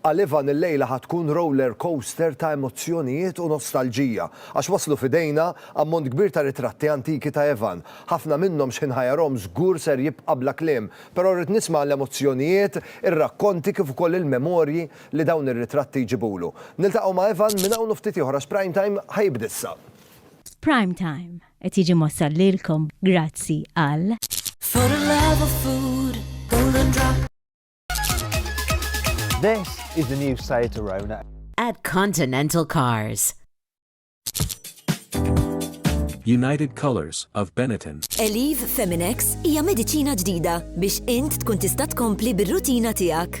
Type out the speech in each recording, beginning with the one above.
Għal Ivan il-lejla ħa tkun roller coaster ta' emozzjonijiet u nostalġija, għax waslu f'idejna ammont kbir ta' ritratti antiki ta' Ivan. Ħafna minnhom x'ħinħajarhom żgur ser jibqa' bla kliem, però rrid nisma' l-emozzjonijiet, ir-rakkonti kif ukoll il-memorji li dawn ir-ritratti jġibulu. Niltaqgħu ma' Ivan minn hawn u ftit ieħor għax Prime Time ħa jibda issa. Prime Time qed jiġi mwassal lilkom grazzi għal. This is the new Seat Arona. At Continental Cars. United Colors of Benetton. Eliv Feminex hija mediċina ġdida biex int tkun tista' tkompli bir-rutina tiegħek.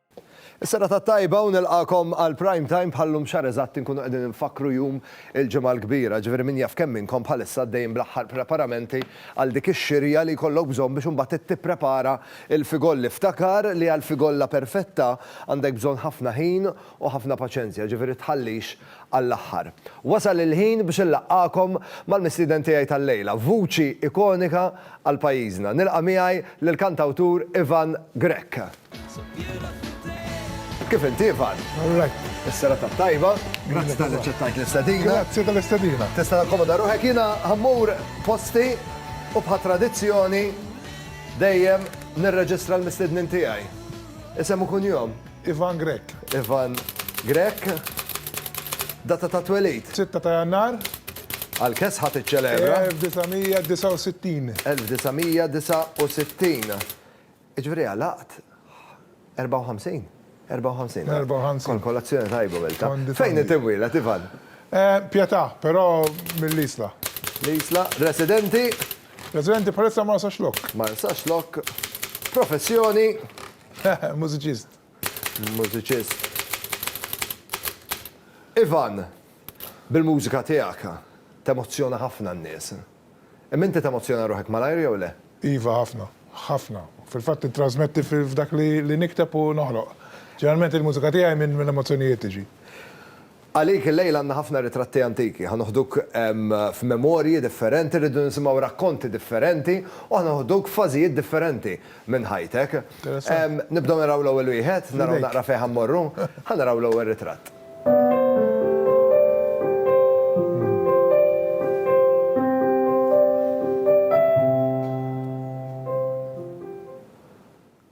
Is-serata t-tajba u nilqagħkom għal Prime Time bħal-lum xahar eżatt inkunu qegħdin infakkru jum il-Ġimgħa l-Kbira, jiġifieri min jaf kemm minnkom bħalissa għaddejjin bl-aħħar preparamenti għal dik ix-xirja li jkollok bżonn biex imbagħad int tipprepara l-figolli. Ftakar li għall-figolla perfetta għandek bżonn ħafna ħin u ħafna paċenzja, jiġifieri tħallix għall-aħħar. Wasal il-ħin biex inlaqqagħkom mal-mistieden tiegħi tal-lejla, vuċi ikonika għal pajjiżna. Nilqa' miegħi lill-kantawtur Ivan Grech. Kif inti, Ivan? All right. Is-serata tajba. Grazzi tal ċettajt l-istadina. Grazzi tal-istadina. Tista' takkomoda ruħek jiena ħammur posti u bħa tradizzjoni dejjem nirreġistra l-mistednin tiegħi. Isem u kunjom? Ivan Grek. Ivan Grek. Data ta' twelid? 6 ta' Jannar. Għal kes ħadd iċċelebra? 1969. 1969. Jiġifieri għalaqt 54? 54. 54. Kolazzjoni tajba Milta. Fejn inti mwieled, Ivan? Pietà, però mill-Isla. L-Isla. Residenti? Residenti bħalissa Marsaxlokk. Marsaxlokk. Professjoni? Mużiċist. Mużiċist. Ivan, bil-mużika tiegħek temozzjona ħafna n-nies. Imma inti temozzjona ruħek malajr jew le? Iva, ħafna. Ħafna. Fil-fatt nittrażmetti f'dak li nikteb u noħloq. Ġeneralment il-mużika tiegħi minn l-emozzjonijiet tiġi. Għalik illejla għandna ħafna ritratti antiki. Ħa noħduk f'memorji differenti, rridu nisimgħu rakkonti differenti u ħa noħduk f'fażijiet differenti minn ħajtek. Nibdew naraw l-ewwel wieħed, naraw naqra fejn ħa mmorru. Ħa naraw l-ewwel ritratt.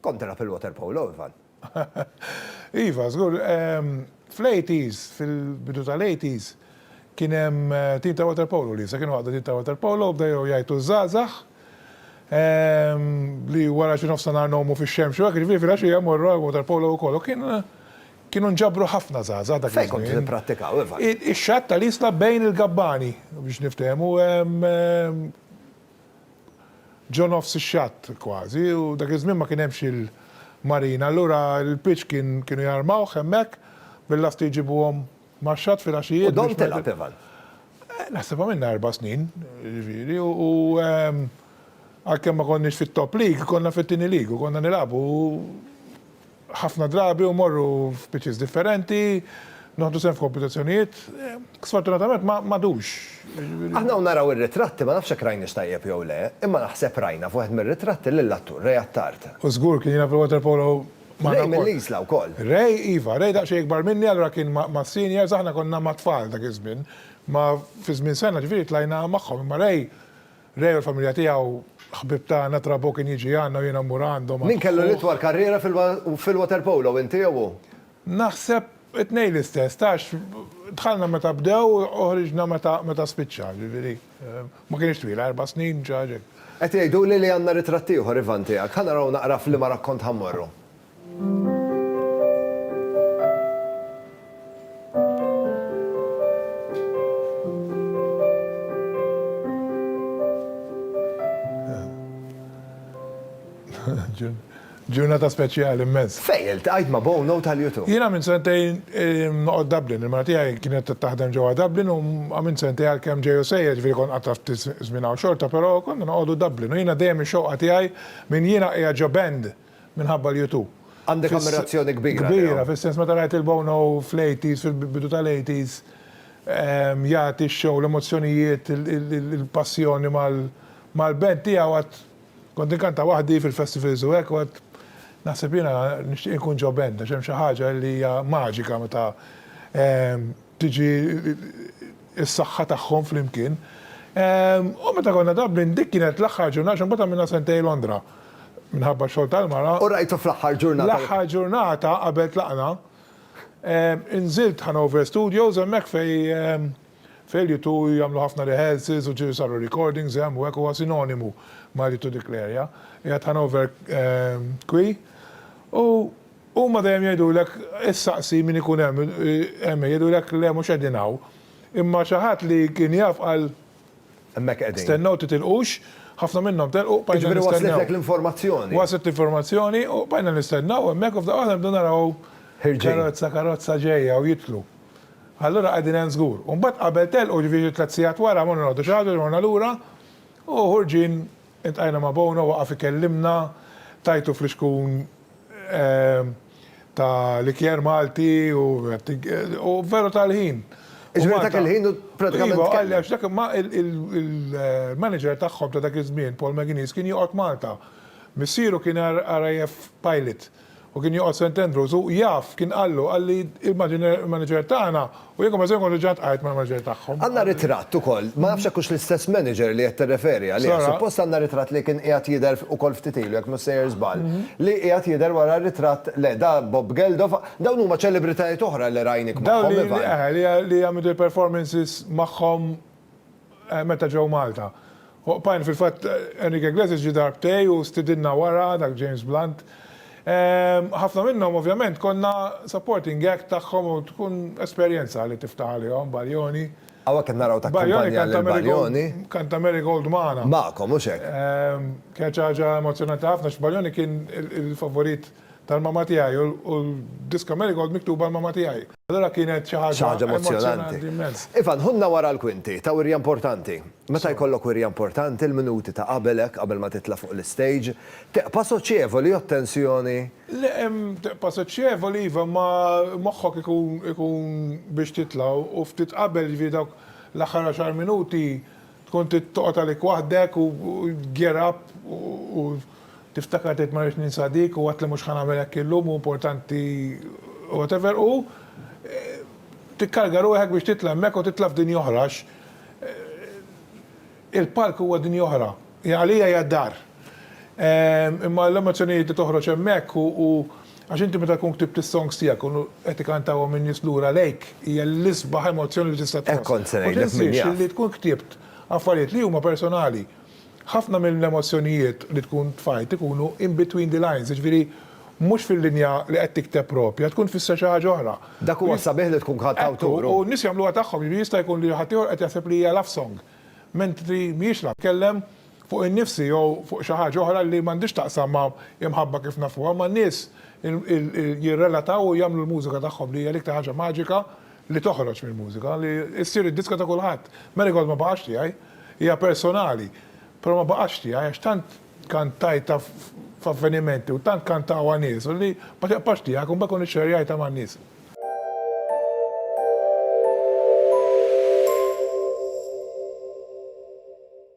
Kont telgħab il-water polo, Ivan? Iva, żgur. Ehm, fl-80s, fil-bidu tal-80s, kien hemm eh, tim ta' water polo li sa kienu għadda tim ta' water polo, bda jew jgħajtu żgħażagħ ehm, li wara xi nofsa nar nomu fix-xemx u hekk ġifieri fil-għaxija morru water polo wkoll. Kien Kienu nġabru ħafna żgħażagħ dak iż-żmien. Fejn kontu tipprattikaw, Ivan? Ix-xatt tal-Isla bejn il-gabbani, biex niftehmu, ġo nofs ix-xatt kważi, u dak iż-żmien ma kien hemmx il-marina, allura l-pitch kien kienu jarmawh hemmhekk bil-lasti jġibuhom. Mar xatt filgħaxijiet biex. U dom tilgħab, Ivan? Naħseb għamilna erba' snin, jiġifieri, u għalkemm ma konniex fit-top league, konna fit-tieni league u konna nilagħbu ħafna drabi u mmorru f'pitches differenti, noħdu sehem f'kompetizzjonijiet. Sfortunatament ma għadux. Aħna hawn naraw ir-ritratti, ma nafx jekk rajniex tajjeb jew le, imma naħseb rajna f'wieħed mir-ritratti lill-attur Ray Attard. U żgur kien jilgħab il-waterpolo Ray mill-Isla wkoll. Ray, iva, Ray daqsxejn ikbar minni allura kien mas-seniors, aħna konna ma' tfal dak iż-żmien. Ma fi żmien sena ġifieri tlajna magħhom imma Ray, Ray u l-familja tiegħu ħbieb tagħna, Trabó kien jiġi għandna u jiena mmur għandhom. Min kellu l-itwal karriera fil-waterpolo, inti jew hu? Naħseb it-tnejn l-istess, tgħax dħalna meta bdew u ħriġna meta spiċċa, ġifieri. Ma kinitx twila, erba' snin ġa ġejt. Qed jgħiduli li għandna ritratt ieħor, Ivan, tiegħek. Ħa naraw naqra f'liema rakkont ħa mmorru. Ġieli. Ġurnata speċjali immens. Fejn iltqajt ma' Bono tal-U2? Jiena għamilt sentejn noqgħod Dublin. Il-mara tiegħi kienet qed taħdem ġewwa Dublin u għamilt sentejn għalkemm ġej u sejjer, jiġifieri kont qgħadt għal ftit żmien hawn xorta, però konna noqogħdu Dublin. U jiena dejjem ix-xewqa tiegħi minn jiena qiegħed ġo band minħabba l-U2. Għandek ammirazzjoni kbira lejhom. Kbira, fis-sens meta rajt lil Bono fl-80s, fil-bidu tal-80s, jagħti x-show, l-emozzjonijiet, il-passjoni mal-band tiegħu għad Kont inkanta waħdi fil-festivals u hekk u għedt, naħseb jiena nixtieq inkun ġo band għax hemm xi ħaġa li hija maġika meta tiġi s-saħħa tagħhom flimkien. U meta konna Dublin, dik kienet l-aħħar ġurnata għax imbagħad għamilna sentejn Londra minħabba x-xogħol tal-mara. U rajtu fl-aħħar ġurnata. L-aħħar ġurnata qabel tlaqna, inżilt Hanover Studios hemmhekk fejn Failure to jagħmlu ħafna rehearsals u ġieli saru recordings hemm u hekk huwa sinonimu ma' li to declare ja. Qiegħed Hanover qui u huma dejjem jgħidulek issaqsi min ikun hemm hemm jgħidulek le mhux qegħdin hawn. Imma xi ħadd li kien jaf qal Hemmhekk qegħdin. Stennew titilqux, ħafna minnhom telqu bqajna nistennew. Jiġifieri waslitlek l-informazzjoni. Waslet l-informazzjoni u bqajna nistennew hemmhekk u f'daqqa waħda nibdew naraw karozza karozza ġejja u jidħlu. Allura qegħdin hemm żgur. U mbagħad qabel telqu, jiġifieri xi tliet sigħat wara, morna noqogħdu xi ħaġa, morna lura u ħorġin iltqajna ma' Bono, waqaf ikellimna, tajtu flixkun ta' likier Malti u u veru tal-ħin. Jiġifieri dak il-ħin hu prattikament tkellem. Iva, qalli għax dak ma il-manager tagħhom ta' dak iż-żmien, Paul McGuinness, kien joqgħod Malta. Missieru kien RAF pilot. U kien joqgħod St. Andrews u jaf, kien qallu, qalli l-manager tagħna u jekk ma se nkun reġgħet qagħidt mal-manager tagħhom. Għandna ritratt ukoll, ma nafx jekk hux l-istess manager li qed tirreferi għalih, suppost għandna ritratt li kien qiegħed jidher ukoll ftit ilu jekk mhux sejjer żball, li qiegħed jidher wara r-ritratt, le da Bob Geldof, dawn huma ċelebritajiet oħra li rajnik magħhom Ivan. Dawn li, eħe, li għamilt il-performances magħhom. meta ġew Malta. Oqpajn, fil-fatt Enrique Iglesias ġie darb tiegħi u stidinna wara, dak James Blunt. Ħafna minnhom ovvjament konna supporting act tagħhom u tkun esperjenza li tiftaħ għalihom Baglioni. Hawnhekk qed naraw takkumpanja lil Baglioni. Baglioni kanta Marigold magħna. Magħkom, hux hekk? Kienet xi ħaġa emozzjonanti ħafna għax Baglioni kien il-favorit. Tal-mamma tiegħi u l-diska Marigold miktuba l-mamma tiegħi. Allura kienet xi ħaġa. Xi ħaġa emozzjonanti immens. Ivan, ħunna wara l-kwinti ta' wirja importanti. Meta jkollok wirja importanti, l-minuti ta' qabelek, qabel ma titla' fuq l-istejġ, teqpa' soċjevoli jew t-tensjoni. Le, teqpa' soċjevoli iva, ma moħħok ikun ikun biex titla' u ftit qabel, jiġifieri dawk l-aħħar għaxar minuti Tkun trid toqgħod għalik waħdek u gear up u tiftakar tgħid ma rridx ninsa dik u għad li mhux ħa nagħmel hekk illum u importanti whatever u tikkarga ruħek biex titla' hemmhekk u titla' f'dinja oħra għax il-palk huwa dinja oħra. Għalija hija d-dar. Imma l-emozzjonijiet li toħroġ hemmhekk u għax inti meta tkun ktibt is-songs tiegħek u qed ikantawhom in-nies lura lejk hija l-isbaħ emozzjoni li tista' tħoss. Hekk kont se ngħidlek min jaf. U tinsiex li tkun ktibt affarijiet li huma personali. Ħafna mill-emozzjonijiet li tkun tfajt ikunu in between the lines, jiġifieri mhux fil-linja li qed tikteb proprja, tkun tfisser xi ħaġa oħra. Dak huwa s-sabiħ li tkun kantawtur. Ekku, u n-nies jagħmluha tagħhom, jiġifieri jista' jkun li ħaddieħor qed jaħseb li hija love song, mentri mhijiex love. Tkellem fuq innifsi jew fuq xi ħaġa oħra li m'għandhiex x'taqsam ma' l-imħabba kif nafuha, ma' nies jirrelataw u jagħmlu l-mużika tagħhom li hija l-iktar ħaġa maġika li toħroġ mill-mużika, li ssir id-diska ta' kulħadd. Marigold ma baqax tiegħi, hija personali, però ma baqatx tiegħi għax tant kantajtha f'avvenimenti u tant kantawha nies u li ma tibqax tiegħek u mbagħad tkun ixxerjajtha man-nies.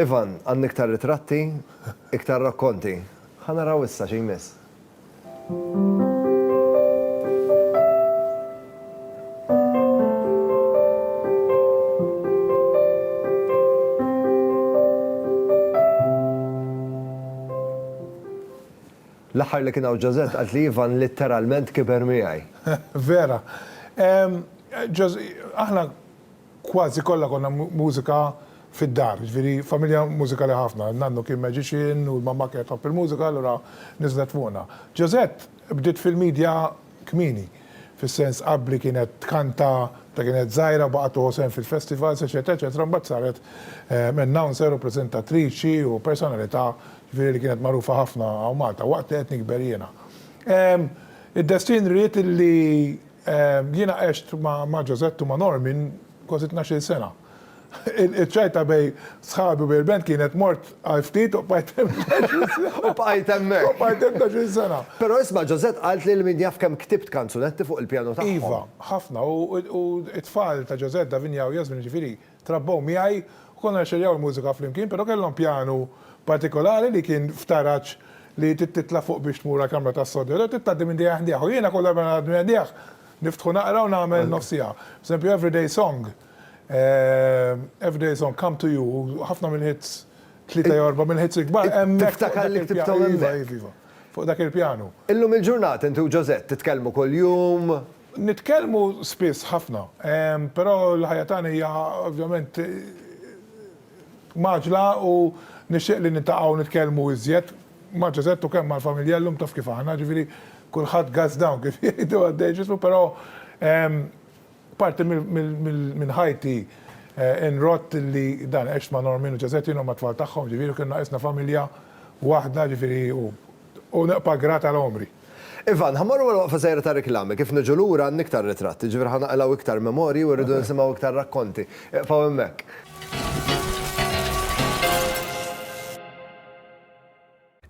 Ivan, Għandna iktar ritratti, iktar rakkonti. Ħa naraw issa xi jmiss. L-aħħar li kien hawn Josette qalt li Ivan litteralment kiber miegħi. Vera. Aħna Kważi kollha konna mużika fid-dar, jiġifieri familja mużikali ħafna. Nannu kien magician u l-mamma kienet tħobb il-mużika allura niżlet fuqna. Josette bdiet fil-midja kmieni, fis-sens qabbli kienet tkanta meta kienet żgħira, baqgħet tieħu sehem fil-festivals, eċċetera, eċċetera, mbagħad saret announcer u preżentatriċi u personalità jiġifieri li kienet magħrufa ħafna hawn Malta waqt li qed nikber jiena. Id-destin ried illi Jiena għext ma' Josette u ma' Normin kważi tnax-il sena. Iċ-ċajta bejn sħabi u bejn il-band kienet mort għal ftit u bqajt hemm tnax-il sena. U bqajt hemmhekk. U bqajt hemm tnax-il sena. Però isma' Josette qaltli li min jaf kemm ktibt kanzunetti fuq il-pjanu tagħhom. Iva, ħafna u t-tfal ta' Josette, Davinia u Yasmin, jiġifieri, Trabbew miegħi u konna nxerjaw il-mużika flimkien, però kellhom pjanu partikolari li kien f'taraġ li trid titla' fuq biex tmur għall-kamra tas-sodja, jew trid tgħaddi minn dieħ ħdieħ u jiena kull darba ngħaddi minn dieħ niftħu naqra u nagħmel nofs siegħa. Pereżempju Everyday Song, Everyday Song, Come to You u ħafna mill-hits, tlieta jew erba' mill-hits il-kbar hemmhekk fuq dak il-pjanu. Iva, iva, iva. Fuq dak il-pjanu. Illum il-ġurnata inti u Josette titkellmu kuljum? Nitkellmu spiss ħafna, però l-ħajja tagħna hija ovvjament mgħaġġla u nixtieq li niltaqgħu nitkellmu iżjed ma' Ġozett u kemm mal-familja llum taf kif aħna, ġifieri kulħadd guns down kif jgħidu għaddej ġismu però parti minn ħajti nrott li dan għext ma' Normin u Ġozett jien u mat-tfal tagħhom ġifieri u kienu naqisna familja waħda ġifieri u U nibqa' grat għal għomri. Ivan, Ħa mmorru għal waqfa żgħira ta' riklami. Kif niġu lura għandna iktar ritratti, jiġifieri ħa naqilgħu iktar memorji u rridu nisimgħu iktar rakkonti. Iqfgħu hemmhekk.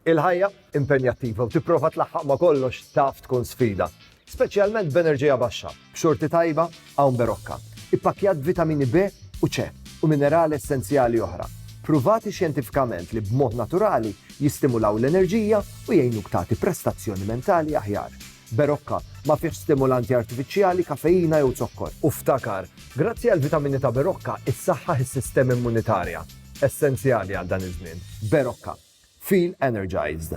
Il-ħajja impenjattiva u tipprova tlaħħaq ma' kollox taf tkun sfida. speċjalment b'enerġija baxxa, b'xorti tajba hawn berokka, ippakkjat b'vitamini B u C u minerali essenzjali oħra, ppruvati xjentifikament li b'mod naturali jistimulaw l-enerġija u jgħinuk tagħti prestazzjoni mentali aħjar. Berokka ma fihx stimulanti artifiċjali, kafeina jew zokkor. U ftakar, grazzi għall-vitamini ta' berokka issaħħaħ is-sistema immunitarja, essenzjali għal dan iż-żmien. Berokka. Feel energized.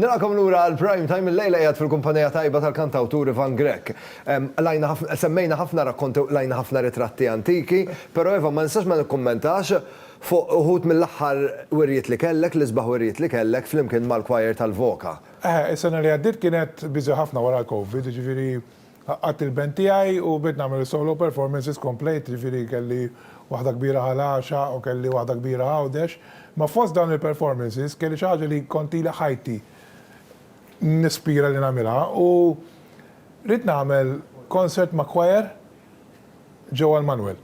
Nilqakom lura għal prime time il-lejla jgħad fil-kumpanija tajba tal-kantawtur Ivan Grek. Lajna semmejna ħafna rakkonti lajna ħafna ritratti antiki, pero Ivan ma nistax ma nikkummentax fuq uħud mill-aħħar wirjiet li kellek, l-isbaħ wirjiet li kellek flimkien mal-choir tal-Voka. Is-sena li għaddiet kienet biżi ħafna wara l-Covid, jiġifieri Għaqqadt il-band tiegħi u bdejt nagħmel is-solo performances komplejt, jiġifieri kelli waħda kbira ħal għaxa u kelli waħda kbira Għawdex. Imma fost dawn il-performances kelli xi ħaġa li kont ili ħajti nispira li nagħmilha u ridt nagħmel concert ma' choir ġewwa l-Manwel.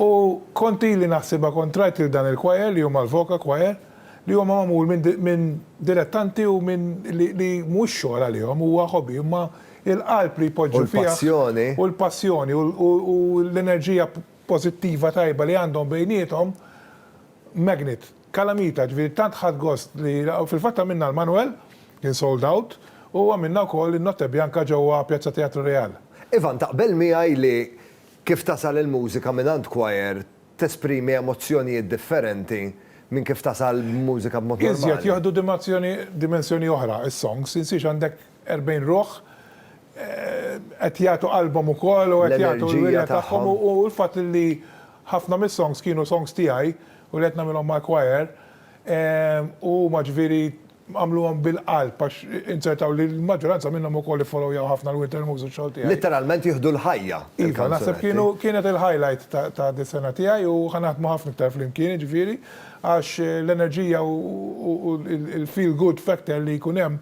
U kont ili naħsibha kont rajt lil dan il-choir li huma l-Voca Choir li huma magħmul minn dilettanti u minn li mhuwiex xogħol għalihom huwa hobby imma il-qalb li jpoġġu fih, u l-passjoni, u l-enerġija pożittiva tajba li għandhom bejniethom, magnet, kalamita, ġifieri tant ħadt gost li, u fil-fatt għamilna l-Manwel, kien sold out, u għamilna wkoll in-Notte Bianca ġewwa Piazza Teatro Real. Ivan, taqbel miegħi li kif tasal il-mużika mingħand kwajer tesprimi emozzjonijiet differenti minn kif tasal mużika b'mod normali? Iżjed, jieħdu dimensjoni oħra s-songs, insiex għandek 40 ruħ qed jagħtu qalbhom ukoll u qed jagħtu l-wirja tagħhom u l-fatt li ħafna mis-songs kienu songs tiegħi u li qed nagħmilhom mal-choir u huma ġifieri għamluhom bil-qalb għax inzertaw li l-maġġoranza minnhom ukoll iffolowjaw ħafna l-Winter Moves u x-xogħol tiegħi. Litteralment jieħdu l-ħajja. Iva, naħseb kienu kienet il-highlight ta' dis-sena tiegħi u ħa naħdmu ħafna iktar flimkien jiġifieri għax l-enerġija u l-feel good factor li jkun hemm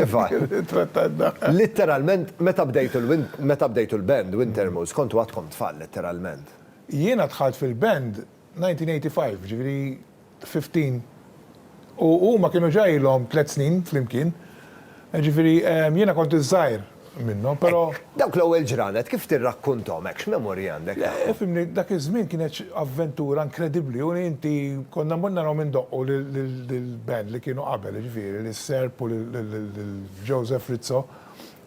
Iva. It-trattat da. Litteralment, meta bdejtu l-win, meta bdejtu l-band, Wintermoose, kontu għadkom tfal, litteralment. Jiena dħalt fil-band 1985, jiġifieri 15, u huma kienu ġa ilhom tliet snin flimkien, jiġifieri jiena kont iż-żgħir. minnhom, però. Dawk l-ewwel ġranet kif tirrakkunthom hekk, x'memorji għandek? Le, fimni, dak iż-żmien kienet avventura inkredibbli u inti konna mmur narahom indoqqu lill-band li kienu qabel, jiġifieri lis-Serb u lil Joseph Rizzo.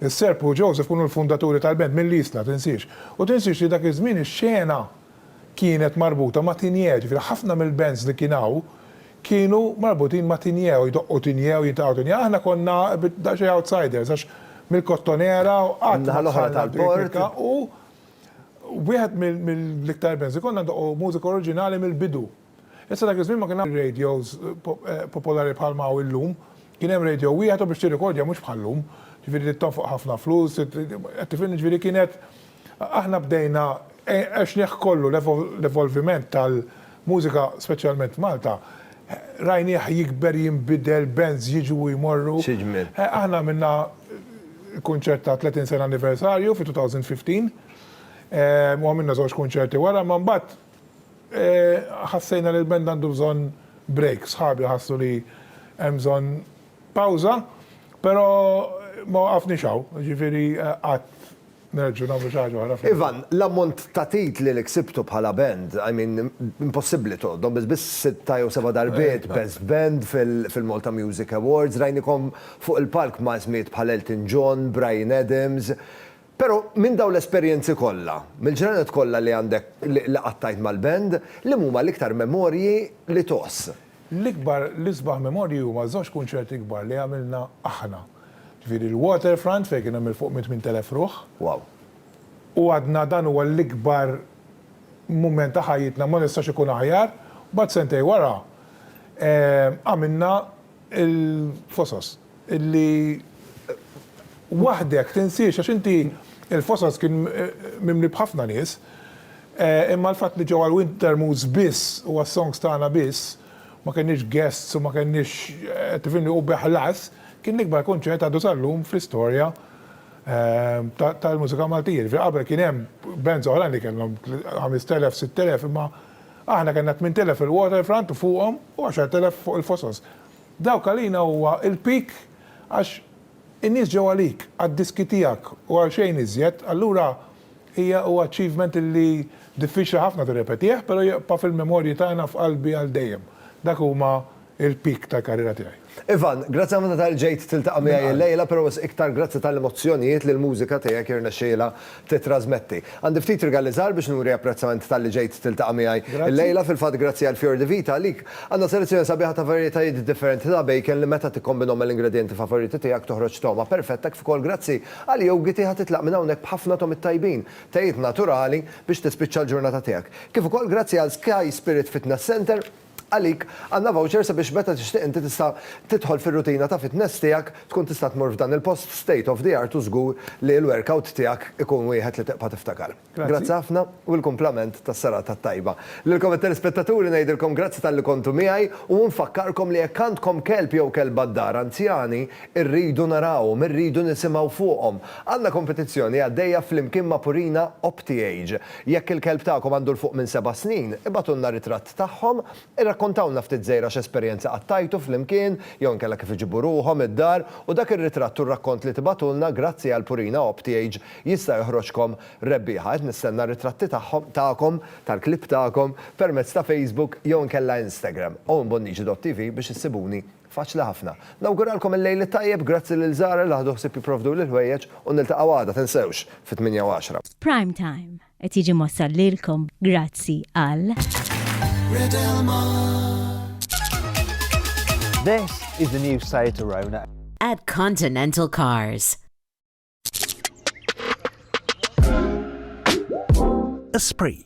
Is-Serb u Joseph kienu l-fundaturi tal-band mill-Isla, tinsiex. U tinsiex li dak iż-żmien ix-xena kienet marbuta ma' Tinjè, ġifieri ħafna mill-bands li kien hawn kienu marbutin ma' Tinjè u jdoqqu Tinjè u jintaqgħu Tinjè. Aħna konna daqsxejn outsiders għax mill-Kottonera u qatt ma dħalna l-Birkirkka u wieħed mill-iktar bands li konna ndoqqu mużika oriġinali mill-bidu. Issa dak iż-żmien ma kien hawn radios popolari bħal ma hawn illum. Kien hemm radio wieħed u biex tirrikordja mhux bħal llum. Ġifieri trid tonfoq ħafna flus, qed tifhimni? Ġifieri kienet aħna bdejna għexnieh kollu l-evolviment tal-mużika speċjalment f'Malta rajnieh jikber, jinbidel, bands jiġu u jmorru. Aħna għamilna kunċert ta' 30 sena anniversarju fi 2015 u għamilna żewġ kunċerti wara, imma mbagħad Ħassejna li l-band għandu bżonn break, sħabi ħassu li hemm bżonn pawża, però ma waqafniex hawn, jiġifieri qatt nerġgħu nagħmlu xi ħaġa oħra. Ivan, l-ammont ta' titli li ksibtu bħala band, I mean, impossibbli tgħoddhom, biss biss sitta jew seba' darbiet Best Band fil-Malta Music Awards, rajnikom fuq il-palk ma' ismijiet bħal Elton John, Bryan Adams, Però minn dawn l-esperjenzi kollha, mill-ġranet kollha li għandek li qattajt mal-band, liema huma l-iktar memorji li tgħożż? L-ikbar, l-isbaħ memorji huma żewġ kunċerti kbar li għamilna aħna. Ġifieri l-Waterfront fejn kien hemm 'il fuq minn 8,000 ruħ. Wow. U għadna dan huwa l-ikbar mument ta' ħajjitna, ma jistax ikun aħjar. Mbagħad sentejn wara għamilna l-Fosos. Illi waħdek tinsiex għax inti il-Fossas kien mimli b'ħafna nies imma l-fatt li ġew għal Wintermoods biss u għas-songs tagħna biss, ma kenniex guests u ma kenniex qed tifhimni u bi ħlas, kien l-ikbar kunċert għadu sal-lum fl-istorja tal-mużika Maltija. Jiġifieri qabel kien hemm bands oħrajn li kellhom ħamest elef, sitt elef imma aħna kellna tmint elef il-Waterfront u fuqhom u għaxart elef fuq il-Fossas. Dawk għalina huwa l-peak għax in-nies ġew għalik, għad-diski tiegħek u għal xejn iżjed, allura hija huwa achievement li diffiċli ħafna tirrepetih, però jibqa' fil-memorji tagħna f'qalbi għal dejjem. Dak huma l-peak tal-karriera tiegħi. Ivan, grazzi ħafna talli ġejt tiltaqa' miegħi llejla, però wisq iktar grazzi tal-emozzjonijiet li l-mużika tiegħek irnexxielha tittrasmetti. Għandi ftit rigali żgħar biex nuri apprezzament talli ġejt tiltaqa' miegħi illejla. Fil-fatt grazzi għal Fior di Vita għalik għandna selezzjoni sabiħa ta' varjetajiet differenti ta' bacon li meta tikkombinhom mal-ingredjenti favoriti tiegħek toħroġ togħma perfetta kif ukoll grazzi għal jowgiti ħa titlaq minn hawnhekk b'ħafna togħmiet tajbin, tejiet naturali biex tispiċċa l-ġurnata tiegħek. Kif ukoll grazzi għal Sky Spirit Fitness Centre. Għalik, għandna voucher sabiex meta tixtieq inti tista' tidħol fir-rutina ta' fitness tiegħek, tkun tista' tmur f'dan il-post state of the art u żgur li l-workout tiegħek ikun wieħed li tibqa' tiftakar. Grazzi ħafna u l-kumplament tas-serata t-tajba. Lilkom it-telespettaturi ngħidilkom grazzi talli kontu miegħi u nfakkarkom li jekk għandkom kelb jew kelba d-dar anzjani, irridu narawhom, irridu nisimgħu fuqhom. Għandna kompetizzjoni għaddejja flimkien ma' Purina OptiAge. Jekk il-kelb tagħkom għandu 'l fuq minn seba' snin, ibagħtulna ritratt tagħhom, irrakkontawlna ftit żgħira x'esperjenza qattajtu flimkien jew inkella kif iġibu ruħhom id-dar u dak ir-ritratt u r-rakkont li tibagħtulna grazzi għal Purina Optiage jista' joħroġkom rebbieħa. Qed nistenna r-ritratti tagħhom, tagħkom, tal-klieb tagħkom permezz ta' Facebook jew inkella Instagram, owenbonnici.tv biex issibuni. Faċli ħafna. Nawguralkom il-Lejl it-Tajjeb, grazzi lil Zara li ħadu ħsieb jipprovduli l-ħwejjeġ u niltaqgħu għada, tinsewx, fit-tmienja u għaxra. Prime Time qed jiġi mwassal lilkom grazzi għal. This is the new Seat Arona. At Continental Cars. Esprit.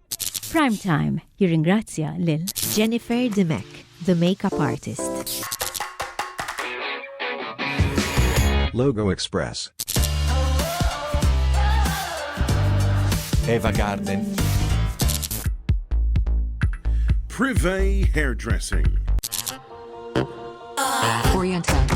Prime Time jirringrazzja lil Jennifer Dimech, the makeup artist. Logo Express. Eva Garden. Privé Hairdressing. Oriental.